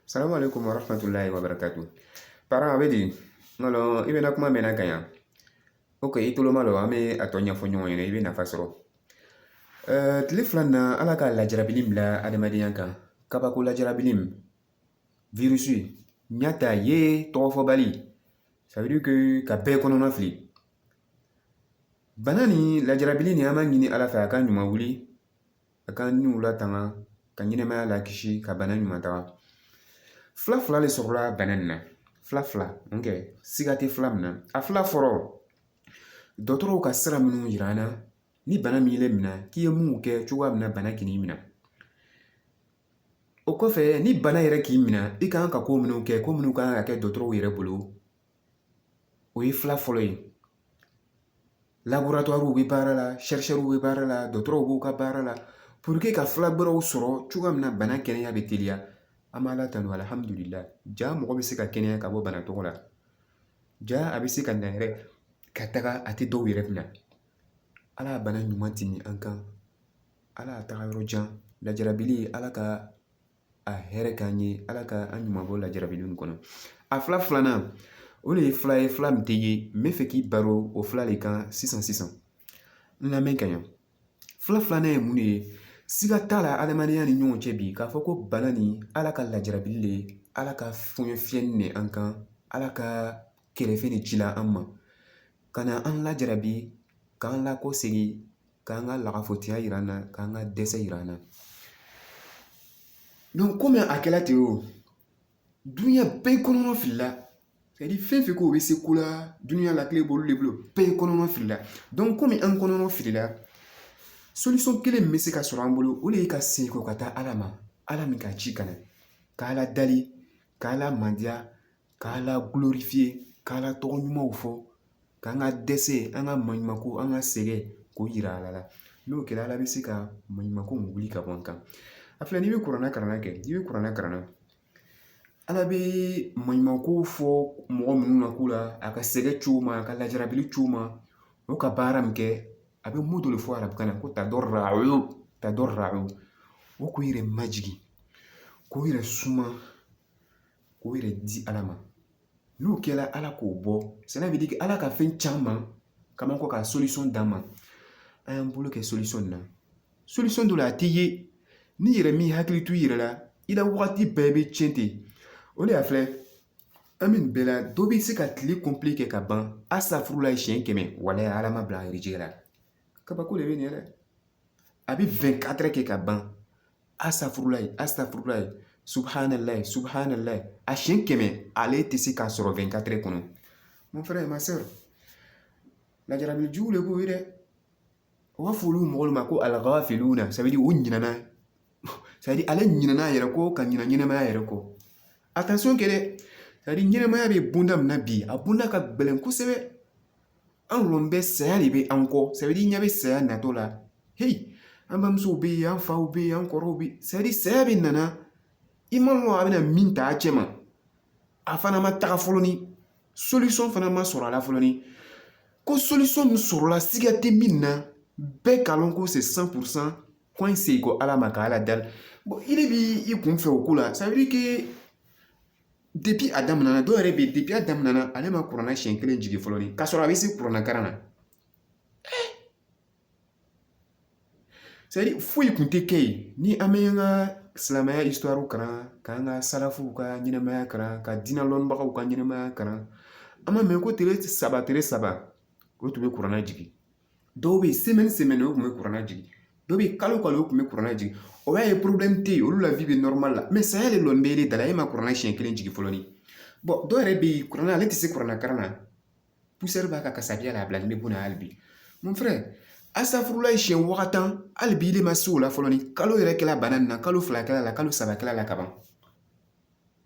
Salamu alaikum wa rahmatullahi wa barakatuh. Para a bɛ di n k'a lɔn i bɛ n na kuma mɛnna ka ɲa ok i tolo malɔ an bɛ a tɔ ɲɛfɔ ɲɔgɔn ɲɛna i bɛ nafa sɔrɔ ɛɛ tile fila nin na ala ka lajarabili bila adamadenya kan kabako lajarabili min virisi ɲa t'a ye tɔgɔfɔbali ça veut dire que ka bɛɛ kɔnɔna fili bana ni lajarabili nin an b'a ɲini ala fɛ a k'a ɲuman wuli a ka niw latanga ka ɲɛnɛmaya lakisi ka bana ɲuman taga fila fila de sɔrɔla bana nin na fila fila ok siga tɛ fila min na a fila fɔlɔ dɔgɔtɔrɔw ka sira minnu yira an na ni bana m'ile minɛ k'i ye mun kɛ cogoya min na bana kan'i minɛ o kɔfɛ ni bana yɛrɛ k'i minɛ i kan ka ko minnu kɛ ko minnu kan ka kɛ dɔgɔtɔrɔw yɛrɛ bolo o ye fila fɔlɔ ye laboratoirew bɛ baara la chercheurw bɛ baara la dɔgɔtɔrɔw b'u ka baara la pour que ka fila gbɛrɛw sɔrɔ cogoya min na bana kɛnɛya bɛ teliya an b'ala tanu alihamudulila ja mɔgɔ bɛ se ka kɛnɛya ka bɔ bana tɔgɔ la ja a bɛ se ka na yɛrɛ ka taga a tɛ dɔw yɛrɛ minɛ ala y'a bana ɲuman tɛmɛn an kan ala y'a taga yɔrɔ jan lajarabili ala ka a hɛrɛ k'an ye ala ka an ɲuman bɔ lajarabili nin kɔnɔ a fila filanan o de ye fila ye fila min tɛ ye n bɛ fɛ k'i baro o fila de kan sisan sisan n lamɛn ka ɲa fila filanan ye mun de ye siga t'a la adamadenya ni ɲɔgɔn cɛ bi k'a fɔ ko bana nin ala ka lajarabili de ala ka fɔɲɔ fiyɛ de an kan ala ka kɛrɛfɛ de ci la an ma ka na an lajarabi k'an lakɔsegin k'an ka lagafotigiya yira an na k'an ka dɛsɛ yira an na donc komi a kɛla ten o duniɲa bɛɛ kɔnɔna filila fɛn o fɛn ko u bɛ se ko la dunya la kile b'olu de bolo bɛɛ kɔnɔna filila donc komi an kɔnɔna filila solution kelen min bɛ se ka sɔrɔ an bolo o de ye ka segin kɔ ka taa ala ma ala min k'a ci ka na k'ala dali k'ala mandiya k'ala glorifier k'ala tɔgɔ ɲumanw fɔ k'an ka dɛsɛ an ka maɲumanko an ka sɛgɛn k'o yira ala la n'o kɛra ala bɛ se ka maɲumanko wuli ka bɔ an kan a filɛ n'i bɛ kuranna kalan kɛ n'i bɛ kuranna kalan ala bɛ maɲumanko fɔ mɔgɔ minnu ma k'u la a ka sɛgɛn cogo ma a ka lajarabi cogo ma o ka baara min kɛ a bɛ mot dɔ de fɔ arabukan na ko tadarra'u yatadarra'u k'u yɛrɛ majigin k'u yɛrɛ suma k'o yɛrɛ di ala ma n'o kɛra ala k'o bɔ cela veut dire que ala ka fɛn caman k'an ma ko ka solution d'an ma an y'an bolo kɛ solution na solution dɔ la a tɛ ye n'i yɛrɛ m'i hakili to i yɛrɛ la i la wagati bɛɛ bɛ tiɲɛ ten o de y'a filɛ an bɛ nin bɛɛ la dɔ bɛ se ka tile complet kɛ ka ban asitafurulayi siɲɛ kɛmɛ walayi ala m'a bila a harijɛgɛ la kabako de bɛ nin yɛrɛ a bɛ vingt-quatre heures kɛ ka ban A safurulayi a safurulayi subahanalayi subahanalayi a siɲɛ kɛmɛ ale tɛ se k'a sɔrɔ vingt-quatre kɔnɔ mon frère ma sœur lajarabi jugu de b'o ye dɛ u b'a fɔ olu mɔgɔw ma ko aligafiluna ça veut dire u ɲinɛna ça veut dire ale ɲinɛna a yɛrɛ kɔ ka ɲinɛ ɲɛnɛmaya yɛrɛ kɔ attention kɛ dɛ ça veut dire ɲɛnɛmaya bɛ bonda min na bi a bonda ka gɛlɛn kosɛbɛ an dun bɛ saya de bɛ an kɔ ça veut dire ɲɛ bɛ saya natɔ la heyi an bamusow bɛ yen an faw bɛ yen an kɔrɔw bɛ yen saya bɛ nana i ma lɔn a bɛna min ta a cɛ ma a fana ma taga fɔlɔ ni solution fana ma sɔrɔ a la fɔlɔ ni ko solution min sɔrɔla siga tɛ min na bɛɛ ka lɔn ko c'est cent pour cent ko an segin kɔ ala ma ka ala dali i de b'i kun fɛ o ko la a daminɛ na dɔw yɛrɛ bɛ yen depuis a daminɛ na ale ma kuranɛ siɲɛ kelen jigin fɔlɔ ni k'a sɔrɔ a bɛ se kuranɛ karan na c'est-à-dire foyi kun tɛ kɛ yen ni an bɛ an ka silamɛya histoire karan k'an ka salafuw ka ɲɛnɛmaya karan ka diinɛ lɔnnibagaw ka ɲɛnɛmaya karan an ma mɛn ko tile saba tile saba o tun bɛ kuranna jigin dɔw bɛ yen semaine o tun bɛ kuranna jigin dɔw bɛ yen kalo kalo o tun bɛ kuranna jigin o y'a ye problème tɛ yen olu la vie bɛ normal la mais saya de dun bɛ e de da la e ma kuranna siɲɛ kelen jigin fɔlɔ ni dɔw yɛrɛ bɛ yen kuranna ale tɛ se kuranna karan na poussière b'a ka kasabiya la a bilalen bɛ bon na hali bi mon frère asafurulayi siɲɛ waa tan hali bi ile ma se o la fɔlɔ ni kalo yɛrɛ kɛla bana nin na kalo fila kɛla la kalo saba kɛla la kaban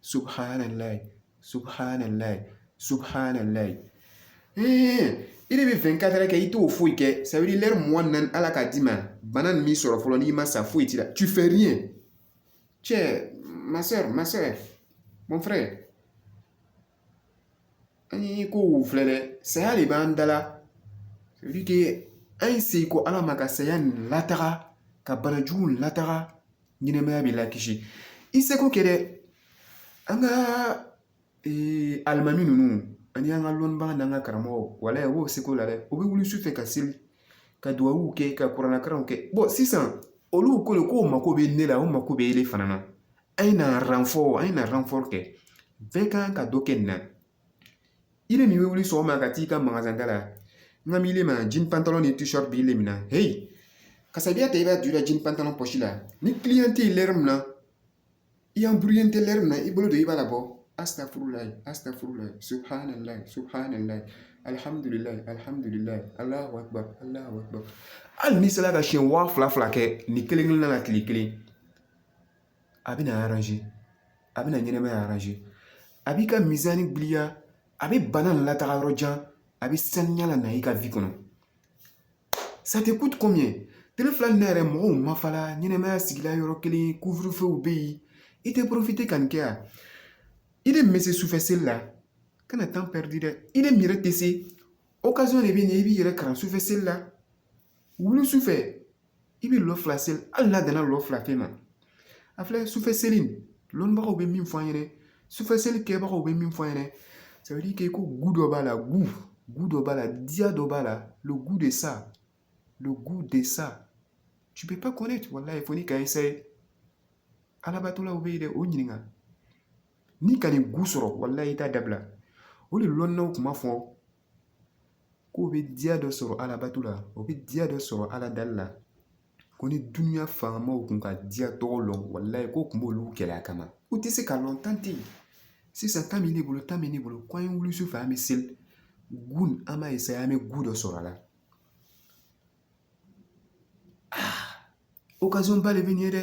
subhanallah subhanallah subhanallah ee i de bɛ vingt-quatre heures kɛ i t'o foyi kɛ ça veut dire lɛri mugan naani ala k'a d'i ma bana nin m'i sɔrɔ fɔlɔ ni i ma sa foyi t'i la tu fais rien cɛ ma sœur ma sœur mon frère an ye ko o filɛ dɛ saya de b'an da la ça veut dire an ye segin kɔ ala ma ka saya nin lataga ka bana jugu lataga ɲɛnɛmaya bɛ lakisi i seko kɛ dɛ an ka alimami ninnu ani an ka lɔnnibaga n'an ka karamɔgɔw wala u b'o seko la dɛ u bɛ wuli su fɛ ka seli ka dugawu kɛ ka kuranɛkaranw kɛ bon sisan olu ko de k'u mako bɛ ne la u mako bɛ e de fana na an ye na renfort an ye na renfort kɛ bɛɛ kan ka dɔ kɛ nin na ile min bɛ wuli sɔgɔma ka t'i ka magasin da la n ka miiri ma jini pantalon ni tisɔri b'i le min na heyi kasabiya ta i b'a don i ka jini pantalon pɔsi la ni kiliyan tɛ yen lɛri min na i embrouillélen tɛ lɛri min na i bolo don i b'a la bɔ astafurulayi astafurulayi subhanalayi subhanalayi alihamudulilayi alihamudulilayi alahu akibar alahu akibar hali n'i sera ka siɲɛ waa fila fila kɛ nin kelen kelenna na tile kelen a bɛna aranze a bɛna ɲɛnɛmaya aranze a b'i ka mizani giliya a bɛ bana nin lataga yɔrɔ jan a bɛ saniya lana i ka vi kɔnɔ ça te coûte combien tele fila nin yɛrɛ mɔgɔw ma fala ɲɛnɛmaya sigila yɔrɔ kelen couvre-feu bɛ yen i tɛ porofite ka nin kɛ yan ile bɛ se sufɛ seli la kana tan pɛridi dɛ ile miiri tɛ se okazɔn de bɛ nin i b'i yɛrɛ kalan sufɛ seli la wuli sufɛ i bɛ lɔ fila seli hali n'a danna lɔ fila pe ma a filɛ sufɛ seli lɔnbagaw bɛ min fɔ an ɲɛna sufɛ seli kɛbagaw bɛ min fɔ an ɲɛna k'e ko gu dɔ b'a la gu gu dɔ b'a la diya dɔ b'a la le goût de ça le goût de ça tu peux pas connaître wallahi fo n'i ka essayer alabatolaw bɛ yen dɛ o ɲininka n'i ka nin gu sɔrɔ wallahi i t'a dabila o de lɔnnaw kun b'a fɔ k'o bɛ diya dɔ sɔrɔ alabato la o bɛ diya dɔ sɔrɔ ala dali la ko ni dunya faamaw kun k'a diya tɔgɔ lɔn walayi ko kun b'olu kɛlɛ a kama u tɛ se k'a lɔn tan tɛ yen sisan tan bɛ ne bolo tan bɛ ne bolo k'an ye wuli su fɛ an bɛ seli gun an b'a eseye an bɛ gu dɔ sɔrɔ a la okazɔnba de bɛ nin ye dɛ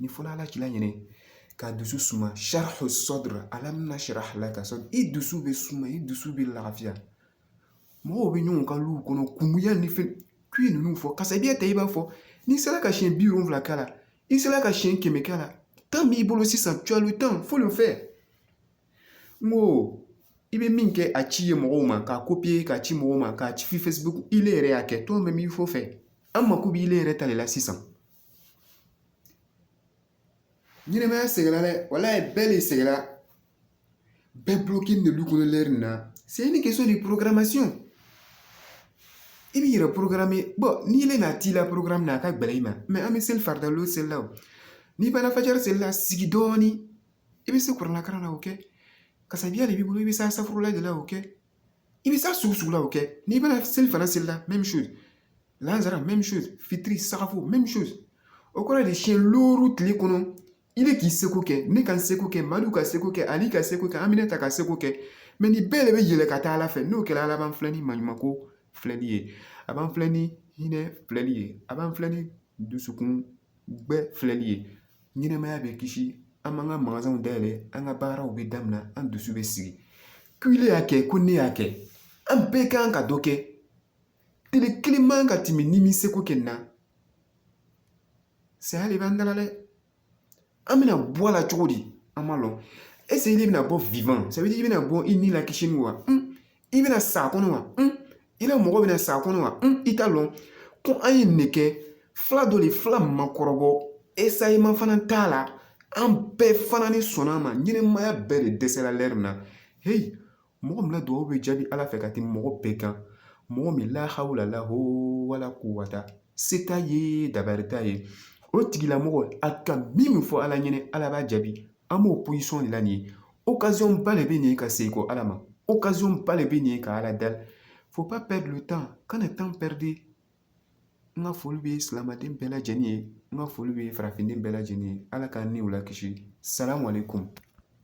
ni fɔlɔ ala k'i laɲini ka dusu suma sharh sadr alam nashrah laka sadr i dusu bɛ suma i dusu bɛ lafiya mɔgɔw bɛ ɲɔgɔn kan lu kɔnɔ kungoya ni fɛn k'i ninnu fɔ kasabiya ta i b'a fɔ n'i sera ka siɲɛ biwolonwula k'a la i sera ka siɲɛ kɛmɛ k'a la tan b'i bolo sisan tu as le temps faut le faire n ko i bɛ min kɛ a ci mɔgɔw ma k'a kopiye k'a ci mɔgɔw ma k'a ci facebook ile yɛrɛ y'a kɛ toi-même il faut faire an mako b'i yɛrɛ ta de la sisan ɲɛnɛmaya sɛgɛnna dɛ walayi bɛɛ de sɛgɛnna bɛɛ bulɔkenen lu kɔnɔ lɛri na c'est une question de programmation i b'i yɛrɛ porokarame bɔn n'ile n'a t'i la porokaramu na a ka gɛlɛn i ma mɛ an bɛ seli farida lɔ seli la o n'i banna fajari seli la sigi dɔɔnin i bɛ se kurana kalan na o kɛ kasabiya de b'i bolo i bɛ se asafurula de la o kɛ i bɛ se a sugu sugu la o kɛ n'i banna selifana seli la même chose lansara même chose fitiri sagafo même chose o kɔrɔ de siɲɛ looru tile kɔnɔ ile k'i seko kɛ ne ka n seko kɛ madu k'a seko kɛ ali k'a seko kɛ aminata k'a seko kɛ mɛ nin bɛɛ de bɛ yɛlɛ ka taa ala fɛ n'o kɛra ala b'an filɛ ni maɲumanko filɛli ye a b'an filɛ ni hinɛ filɛli ye a b'an filɛ ni dusukun gbɛ filɛli ye ɲɛnɛmaya bɛ kisi an b'an ka magazanw dayɛlɛ an ka baaraw bɛ daminɛ an dusu bɛ sigi ko ile y'a kɛ ko ne y'a kɛ an bɛɛ kan ka dɔ kɛ tile kelen man ka tɛmɛ n'i m'i seko kɛ na saya de b'an dala dɛ an bɛna bɔ a la cogo di an m'a lɔn ɛseke ile bɛna bɔ vivant ça veut dire i bɛna bɔ i ni lakisinin wa i bɛna sa kɔnɔ wa i la mɔgɔ bɛna sa kɔnɔ wa i t'a lɔn ko an ye nin kɛ fila dɔ le fila ma kɔrɔbɔ essai ma fana ta a la an bɛɛ fana ni sɔnna a ma ɲɛnamaya bɛɛ de dɛsɛra lɛri na heyi mɔgɔ min na dugawu bɛ jaabi ala fɛ ka tɛmɛ mɔgɔ bɛɛ kan mɔgɔ min lahawla laho wala kuwata se t'a ye dabari t'a ye o tigila mɔgɔ a ka min fɔ ala ɲɛnɛ ala b'a jaabi an b'o position de la nin ye ba de bɛ nin ka segin kɔ ala ma occasion ba de bɛ nin ka ala dali faut pas perdre le temps kana temps perdu n ka foli bɛ silamaden bɛɛ lajɛlen ye n ka foli bɛ farafinden bɛɛ lajɛlen ye ala k'an ni u lakisi salamu aleykum